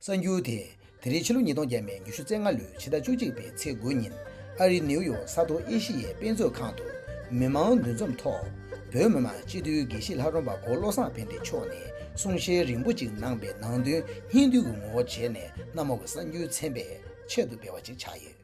གསར་འགྱུར་དེ་དེ་རིང་ཕྱི་ལོ་ཉིས་སྟོང་བརྒྱད་མའི་ཉི་ཤུ་ཚེས་ལྔ་ལོའི་ཕྱི་ཟླ་བཅུ་གཅིག་པའི་ཚེས་དགུ་ཉིན་ཨ་རིའི་ནེའུ་ཡོག་ས་མཐོ་ཨེ་ཤི་ཡའི་དཔེ་མཛོད་ཁང་དུ་མི་མང་འདུ་འཛོམས་ཐོག་བོད་མི་མང་སྤྱི་འཐུས་དགེ་བཤེས་ལྷ་རོང་པ་གོ་བློ་བཟང་དཔལ་ལྡན་མཆོག་ནས་གསུང་བཤད་རིང་པོ་ཅིག་གནང་པའི་ནང་དོན་སྙིང་བསྡུས་ཀྱི་ངོ་བོར་བྱས་ནས་གནམ་འོག་གི་གསར་འགྱུར་ཚན་པས་ཆེད་དུ་སྤེལ་བ་ཅིག་ཆགས་ཡོད།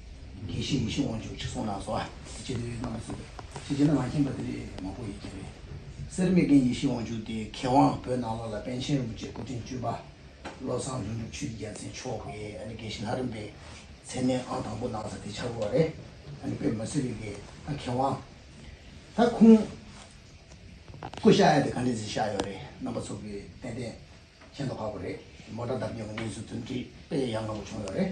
དགེ་བཤེས་ཡེ་ཤེས་དབང་ཕྱུག་ཁྲི་སྲོང་ལགས་སོགས་ཀྱི་སྤྱི་འཐུས་རྣམ་པ་གསུངས་པའི་ཕྱི་རྒྱལ་ན་ང་མཁྱེན་པ་དེ་རེད་མ་གོ་ཡི་རྒྱལ་བའི་སེར་སྨད་རྒན་ཡེ་ཤེས་དབང་ཕྱུག་དེ་མཁས་དབང་བོད་ནང་ལོག་ལ་པན་ཆེན་རིན་པོ་ཆེ་སྐུ་ཕྲེང་བཅུ་པ་བློ་བཟང་ལྷུན་གྲུབ་ཆོས་ཀྱི་རྒྱལ་མཚན་མཆོག་གི་ཨ་ནི་དགེ་བཤེས་ལྷ་རིན་པའི་མཚན་གནས་ཨང་དང་པོ་གནང་ས་དེ་ཆག་གོ་རེད་ཨ་ནི་པེ་མ་སི་རིག་གི་ཨ་མཁས་དབང་ད་ཁུང་སྐུ་ཤ་ཡ་དེ་ག་འདྲས་ཟིག་ཤ་ཡོད་རེད་རྣམ་པ་ཚོ་གི་ཏན་ཏན་མཁྱེན་དོ་ཁག་པོ་རེད་མོ་དྲ་འདབ་རྒྱུན་གི་གནས་ཚུལ་ཚུན་དྲིས་པས་ཡ་ང་པོ་བྱུང་ཡོད་རེད་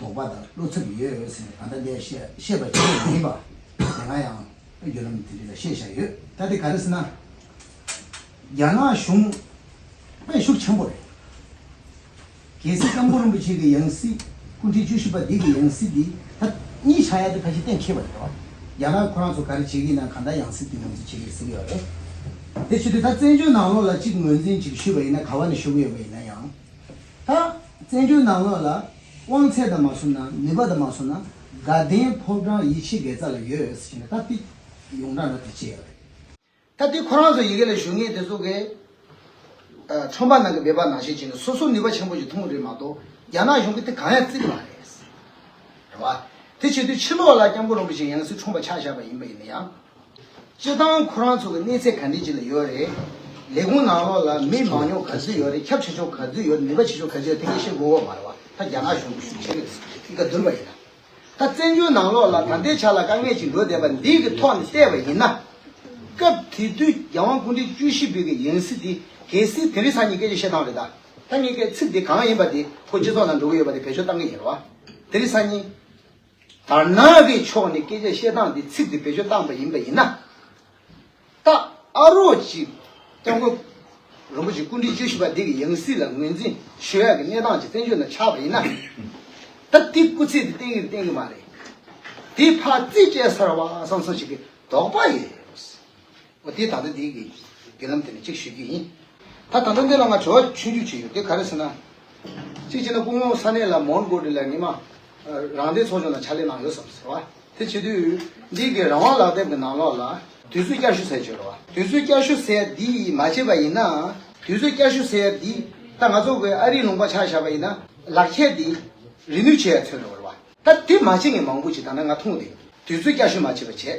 དོགས་པ་དང་བློ་འཚབ་ཡོད་ཟེར་ནས་གང་ལྟར་འདས་ཤེས་པ་ཆེན་པོ་མ་ཡིན་པ་དེ་སྔ་ཡང་བརྒྱུད་ལམ་དེ་རིགས་ལ་བཤད་བཞག་ཡོད། ད་དེ་ག་རེད་ཟེར་ན། རྒྱ་ནག་གཞུང་དཔེ་ཤུགས་ཆེན་པོ་རེད། གལ་སྲིད་སྐྱབས་མགོན་རིན་པོ་ཆེ་གི་ཡང་སྲིད་སྐུ་ཕྲེང་བཅུ་བཞི་པ་འདི་གི་ཡང་སྲིད་འདི་ད་གཉིས་ཆགས་ཡག་འདི་ཕལ་ཆེར་གཏན་འཁེལ་བ་རེད། རྒྱ་ནག་ཁོ་རང་ཚོ་ག་རེ་བྱེད་ཀྱི་ན་གང་ལྟར་ཡང་སྲིད་འདི་ངོས་འཛིན་བྱེད་ཀྱི་རེད་ཟེར་གྱི་ཡོད་རེད། དེ་ཕྱིར་དུས་ད་བཙན་བྱོལ་ནང་ལོགས་ལ་གཅིག་ངོས་འཛིན་ཅིག་ཞུས་པ་ཡིན་ན་ག་བ་ནས་ཞུ་གི་ཡོད་པ་ཡིན་ན་ཡང། ད། བཙན་བྱོལ་ནང་ལོགས་ལ་དབང་ཚད་དང་མ་བསུབ་ན་ནུས་པ་དང་མ་བསུབ་ན་དགའ་ལྡན་ཕོབ་གྲང་ཡིད་ཆེས་དགེ་རྩ་ལ་ཡོད་ཟེར་བཞིན་ལྟ་བདེ་ཡོང་གྲང་ལ་དེ་བྱེད་ཡག་རེད། ད་དེ་ཁོ་རང་ཚོ་ཡི་གེ་ལ་ཞུ་ངེས་དེ་ཚོ་གས་ཁྲོམ་པ་ནང་གི་འབད་པ་ནང་བཞིན་བྱས་ནས་སོ་སོ་ནུས་པ་ཆེན་པོ་ཞིག་འཐུང་རེད་མ་གཏོགས་རྒྱ་ནག་གཞུང་གིས་དེ་གང་ཡང་བརྩི་གི་མ་རེད། རེད་བ། དེ་བྱེད་དུས་ཕྱི་ལོགས་ལ་སྐྱབས་མགོན་རིན་པོ་ཆེ་ཡང་སྲིད་ཁྲོམ་པ་ཆགས་བཞག་པ་ཡིན་པ་ཡིན་ན་ཡང། སྤྱིར་བཏང་ཁོ་རང་ཚོ་གི་གནས་ཚད་ག་འདྲས་ཅིག་ལ་ཡོད་རེད། ལས་ཁུངས་ནང་ལོགས་ལ་མི་མང་ཉུང་ག་ཚོད་ཡོད་རེད་ཁྱབ་ཆེ་ཆུང་ག་ཚོད་ཡོད་ནུས་པ་ཆེ་ཆུང་ག་ཚོད་ཡོད་དེ་ག་ཤེད་མགོ་བོ་བར་བ་ད་རྒྱ་ནག་གཞུང་གཞུང་ཆེན་པོས་གི་ག་བསྡུར་བ་ཡིན་ན། ད་བཙན་བྱོལ་ནང་ལོགས་ལ་ད་ལྟའི་ཆ་ལ་དཀའ་ངལ་ཅིག་འགྲོ་བསྡད་པ་འདི་གི་ཐོག་ནས་བལྟས་པ་ཡིན་ན། སྐབས་དེ་དུས་རྒྱལ་དབང་སྐུ་ཕྲེང་བཅུ་བཞི་པོད་ཀྱི་ཡང་སྲིད་དེ་གལ་སྲིད་དེ་རིང་ས་གཉིས་ཀས་ཀྱི་བཤད་སྟངས་རེད་ད། ད་གཉིས་ཀའི་ཚིག་དེ་གང་ཡིན་པ་དེ་ཁོ་སྤྱི་ཚོགས་ནང་འགྲོ་གི་ཡོད་པ་དེ་བེད་སྤྱོད་གཏང་གི་ཡིན་རེད་བ། དེ་རིང་ས་གཉིས། དར་ནག་གི་ཕྱོགས་ནས་སྐད་ཆ་བཤད་སྟངས་དེ་ཚིག་དེ་བེད་སྤྱོད་བཏང་པ་ཡིན་པ་ཡིན་ན། ད་ཨ་རོགས་ཀྱིས་སྐྱབས་མགོན་རིན་པོ་ཆེ་སྐུ་དྲིན་བཅུ་བཞི་པ་འདི་གི་ཡང་སྲིད་ལ་ངོས་འཛིན་ཞུ་ཡག་གི་གནས་སྟངས་ཀྱི་བཙན་བྱོལ་ན་ཆགས་པ་ཡིན་ན། ད་ཏིག་སྐུ་ཚེ་དེ་བརྟན་གི་བརྟན་གི་མ་རེད། དེ་ཕར་རྩིས་སྤྲད་ཚར་བ་སང་སང་ཞིག་གི་དོགས་པ་ཡོད། འོ་དེས་ད་ལྟ་འདི་གི་བརྒྱུད་ལམ་དེ་ནས་གཅིག་ཞུ་རྒྱུ་ཡིན། ད་ད་ལྟ་འདི་ལ་ང་བྱ་བ་ཆུང་ཆུང་བྱས་ཡོད་དེ་ག་རེ་ཟེར་ན། གཅིག་བྱས་ན་སྐུ་ངོ་ས་གནས་ལ་མོན་གྷོ་དི་ལའི་མི་དམངས་རང་བདེན་ཚོགས་ཆུང་ལ་ཕྱག་ལས་གནང་ཡོད་བསམ་ཟེར་བ། དེ་བྱེད་དུས་འདི་གི་རང་དབང་ལག་དེབ་གི་ནང་ལོགས་ལ། དུས་ཚོད་བསྐྱར་ཞུ་ཟེར་བརྗོད་འགྲོ་བ། དུས་ཚོད་བསྐྱར་ཞུ་ཟེར་འདི་ཡིས་མ་བྱས་པ་ཡིན་ན། དུས་ཚོད་བསྐྱར་ཞུ་ཟེར་འདི་ད་ང་ཚོ་གི་ཨ་རིའི་ལུང་པ་ཆགས་བཞག་པ་ཡིན་ན་ལག་ཁྱེར་འདི་རི་ནུས་བྱས་ཡ་མཚོན་འགྲོ་བ་རེད་བ། ད་དེ་མ་བྱས་ངས་མང་པོ་བྱས་ད་ནི་ང་མཐོང་བ་དེ་དུས་ཚོད་བསྐྱར་ཞུ་མ་བྱས་པ་བྱས།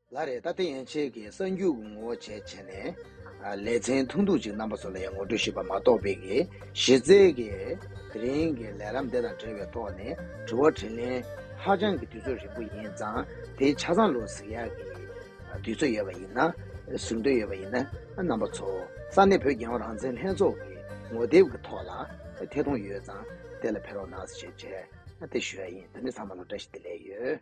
ལ་རེ་ད་ལྟ་ཡན་ཆད་ཀྱི་གསར་འགྱུར་གྱི་ངོ་བོ་བྱས་བྱས་ནས། ལེ་ཚན་ཐུང་ཐུང་ཅིག་རྣམ་པ་ཚོ་ལ་ཡང་ངོ་སྤྲོད་ཞུས་པ་མ་གཏོགས་བོད་ཀྱི་གཞི་རྩའི་གི་དེ་རིང་གི་ལས་རམ་དེ་དང་འབྲེལ་བའི་ཐོག་ནས་དྲི་བ་དྲིས་ལན་ཧ་ཅང་གི་དུས་ཚོད་རིང་པོ་ཡིན་ཙང་དེའི་ཆ་ཚང་ལོ་ཟིག་ཡག་གི་དུས་ཚོད་ཡོད་པ་ཡིན་ན་ཟུར་འདོན་ཡོད་པ་ཡིན་ན་རྣམ་པ་ཚོ་ས་གནས་བོད་རྒྱལ་ཡོངས་རང་བཙན་ལྷན་ཚོགས་ཀྱི་ངོ་དེབ་ཀྱི་ཐོག་ལ་ཐད་གཏོང་ཡོད་ཙང་དེ་ལ་ཕེབས་རོགས་གནང་ཞེས་བཅས་དེ་ཞུ་ཡ་ཡིན་ད་ནི་ཚང་མ་ལ་བཀྲ་ཤིས་བདེ་ལེགས་ཡོད།